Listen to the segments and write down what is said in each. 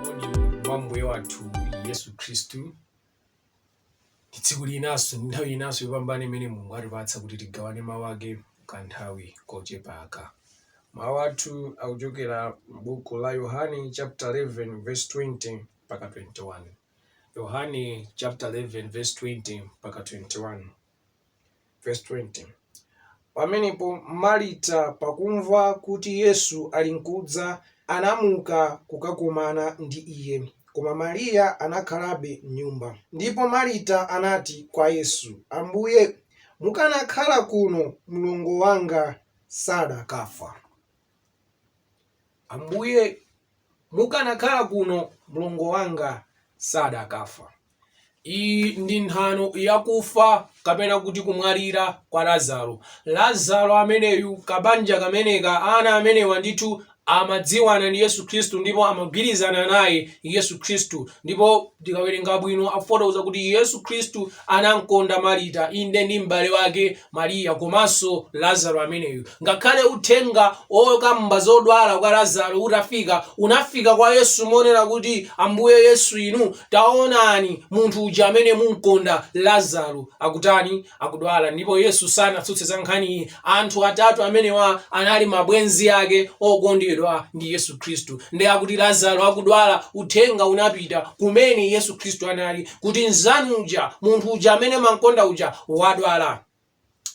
moni wa ambuye wathu yesu khristu ndi tsiku linanso ndi nthawi inanso yopambana imene mulungu atipatsa kuti tigawane mawu ake kanthawi kochepaka mawu athu akuchokera m'buku la yohane chapter 11 verse 20 mpaka 21. Yohane chapter 11 verse 20 mpaka 21. Verse 20. Pamenepo Marita pakumva kuti Yesu ali nkudza anamuka kukakumana ndi iye, koma Mariya anakhalabe m'nyumba. Ndipo Marita anati kwa Yesu, Ambuye, mukanakhala kuno mlongo wanga sadakafa. Ambuye Mukanakhala kuno, mlongo wanga sadakafa. Iyi ndi nthano ya kufa, kapena kuti kumwalira, kwa Lazaro. Lazaro ameneyu, kabanja kameneka, ana amenewa ndithu amadziwana ndi Yesu Khristu ndipo amagwirizana naye Yesu Khristu. Ndipo. Tikawerenga bwino akufotokoza kuti Yesu Khristu anamkonda Marita, inde ndi m'bale wake Mariya komanso Lazaro ameneyu. Ngakhale uthenga okamba zodwala kwa Lazaro utafika, unafika kwa Yesu monena kuti Ambuye Yesu inu taonani munthu uja amene mumkonda Lazaro akutani? akudwala ndipo Yesu sanatsutse za nkhaniyi. Anthu atatu amenewa anali mabwenzi ake okondedwa ndi Yesu Khristu. Ndiye akuti Lazaro akudwala, uthenga unapita kumene Yesu Khristu anali kuti mnzanu uja, munthu uja amene mumam'konda uja wadwala.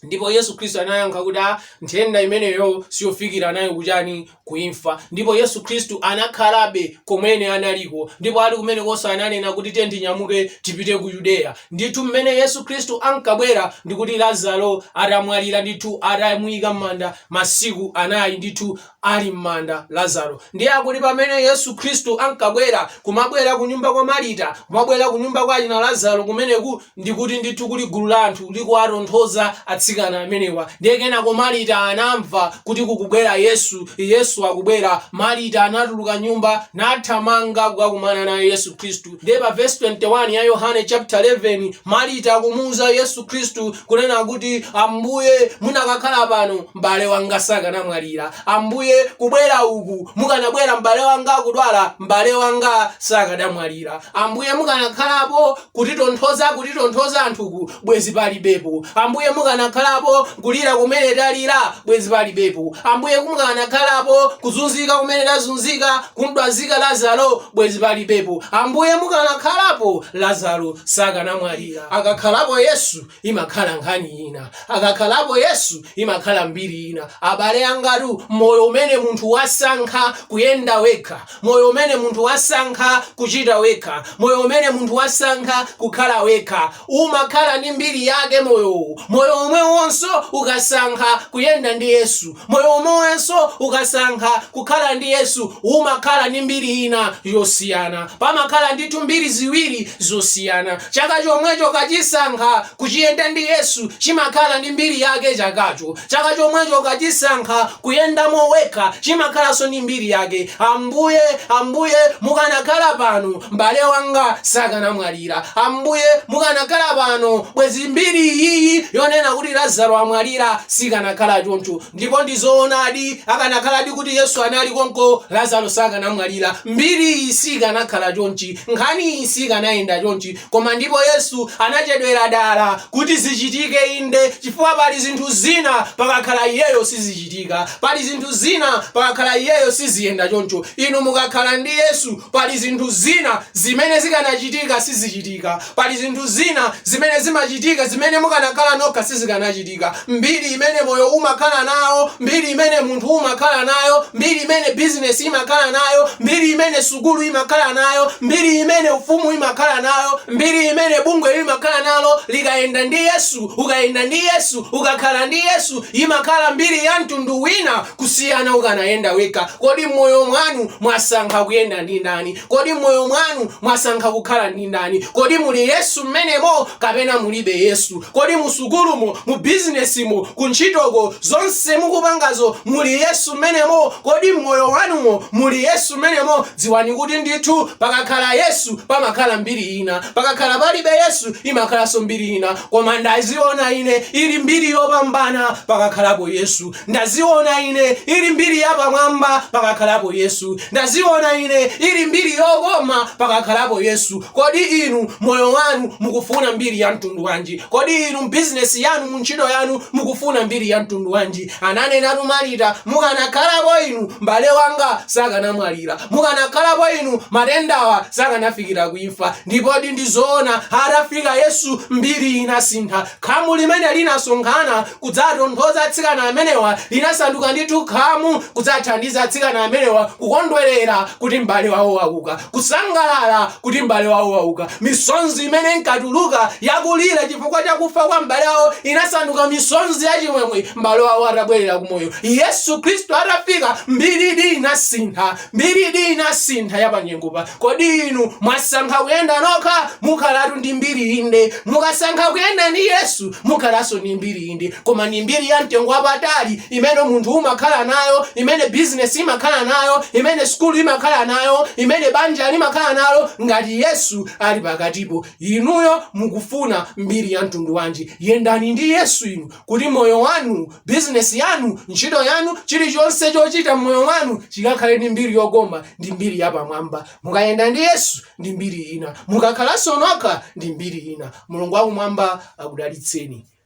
Ndipo Yesu Khristu anayankha kuti, “Aa, nthenda imeneyo siyofikira nayo kuchani? ku imfa. Ndipo Yesu Khristu anakhalabe komwene analiko, ndipo ali kumenekonso ananena kuti tiyeni tinyamuke tipite ku Yudeya. Ndithu m'mene Yesu Khristu ankabwera ndi kuti Lazaro atamwalira ndithu, atamuyika m'manda masiku anayi ndithu ali m'manda Lazaro. Ndiye akuti pamene Yesu Khristu ankabwera kumabwera kunyumba kwa Marita, kumabwera kunyumba kwa achina Lazaro kumeneku ndi kuti ndithu kuli gulu la anthu likuwatonthoza atsikana amenewa. Ndiye kenako Marita anamva kuti kukubwera Yesu, Yesu akubwera. Marita anatuluka m'nyumba nathamanga kukakumana naye Yesu Khristu. Ndiye pa vesi 21 ya Yohane chapter 11, Marita akumuwuza Yesu Khristu kunena kuti, Ambuye, munakakhala pano M'bale wanga sakanamwalira, Ambuye, kubwera uku. Mukanabwera m'bale wanga akudwala, m'bale wanga sakanamwalira. Ambuye, mukanakhalapo kutitonthoza, kutitonthoza anthuku, bwezi palibepo. Ambuye, mukanakhalapo kulira kumene talira, bwezi palibepo. Ambuye, mukanakhalapo kuzunzika kumene tazunzika, kumdwazika Lazaro, bwezi palibepo. Ambuye, mukanakhalapo Lazaro sakanamwalira. Akakhalapo Yesu, imakhala nkhani ina akakhalapo yesu imakhala mbiri ina abale angatu moyo umene munthu wasankha kuyenda wekha moyo umene munthu wasankha kuchita wekha moyo umene munthu wasankha kukhala wekha umakhala ndi mbiri yake moyowu moyo omwewonso ukasankha kuyenda ndi yesu Moyo omwewonso ukasankha kukhala ndi Yesu umakhala ndi mbiri ina yosiyana. Pamakhala ndithu mbiri ziwiri zosiyana. Chaka chomwecho ukachisankha kuchiyenda ndi Yesu chimakhala ndi mbiri yake chakacho. Chaka chomwecho ukachisankha kuyendamo wekha chimakhalanso ndi mbiri yake. Ambuye, Ambuye, mukanakhala pano M'bale wanga sakanamwalira. Ambuye, mukanakhala pano, bwezi mbiri iyi yonena kuti Lazaro amwalira sikanakhala choncho. Ndipo ndi zoonadi, akanakhaladi kuti Yesu anali konko, Lazaro sakanamwalira. Mbiri iyi sikanakhala chonchi. Nkhani iyi sikanayenda chonchi. Koma ndipo Yesu anachedwera dala kuti zichitike inde, chifukwa pali zinthu zina pakakhala iyeyo sizichitika. sizichitika. Pali zinthu zina pakakhala iyeyo siziyenda choncho. Inu mukakhala ndi Yesu pali zinthu zina zimene zikanachitika sizichitika. Pali zinthu zina zimene zimachitika zimene mukanakhala nokha sizikanachitika. Mbiri imene moyo umakhala nawo, mbiri imene munthu umakhala nayo, mbiri imene bizinesi imakhala nayo, mbiri imene sukulu imakhala nayo, mbiri imene ufumu imakhala nayo, mbiri imene bungwe limakhala nalo likayenda ndi Yesu, ukayenda ndi Yesu, ukakhala ndi Yesu Imakhala mbiri ya mtundu wina kusiyana ukanayenda wekha. Kodi m'moyo mwanu mwasankha kuyenda ndi ndani? Kodi m'moyo mwanu mwasankha kukhala ndi ndani? Kodi muli Yesu m'menemo kapena mulibe Yesu? Kodi mu sukulumo, mu bizinesimo, ku ntchitoko, zonse mukupangazo muli Yesu m'menemo? Kodi m'moyo wanumo muli Yesu m'menemo? Dziwani kuti ndithu pakakhala Yesu pamakhala mbiri ina. Pakakhala palibe Yesu imakhalanso mbiri ina. Koma ndaziona ine ili mbiri yopambana pakakhalapo Yesu. Ndaziona ine ili mbiri yapamwamba pakakhalapo Yesu. Ndaziona ine ili mbiri yokoma pakakhalapo Yesu. Kodi inu moyo wanu mukufuna mbiri ya mtundu wanji? Kodi inu bizinesi yanu mu ntchito yanu mukufuna mbiri ya mtundu wanji? Ananenatu Marita, mukanakhalako inu, mbale wanga sakanamwalira. Mukanakhalako inu, matendawa sakanafikira ku imfa. Ndipodi ndi zoona, atafika Yesu, mbiri inasintha. Khamu limene linasonkhana kudzatonthoza atsikana amenewa linasanduka ndithu khamu kudzathandiza atsikana amenewa kukondwerera kuti mbale wawo wauka. kusangalala kuti m'bale wawo wauka misonzi imene inkatuluka yakulira chifukwa cha kufa kwa m'bale wawo inasanduka misonzi ya chimwemwe m'bale wawo atabwerera kumoyo yesu khristu atafika mbiridi inasintha mbiridi inasintha ya pa nyengopa kodi inu mwasankha kuyenda nokha mukhalatu ndi mbiri inde mukasankha kuyenda ndi yesu mukhalanso ndi mbiri inde Koma ndi mbiri ya mtengo wapatali imene munthu umakhala nayo, imene bizinesi imakhala nayo, imene sukulu imakhala nayo, imene banja limakhala nayo ngati Yesu ali pakatipo. Inuyo mukufuna mbiri ya mtundu wanji? Yendani ndi Yesu inu kuti moyo wanu, bizinesi yanu, ntchito yanu, chilichonse chochita m'moyo mwanu chikakhale ndi mbiri yokoma, ndi mbiri yapamwamba. Mukayenda ndi Yesu, ndi mbiri ina. Mukakhalanso nokha, ndi mbiri ina. Mulungu wakumwamba akudalitseni.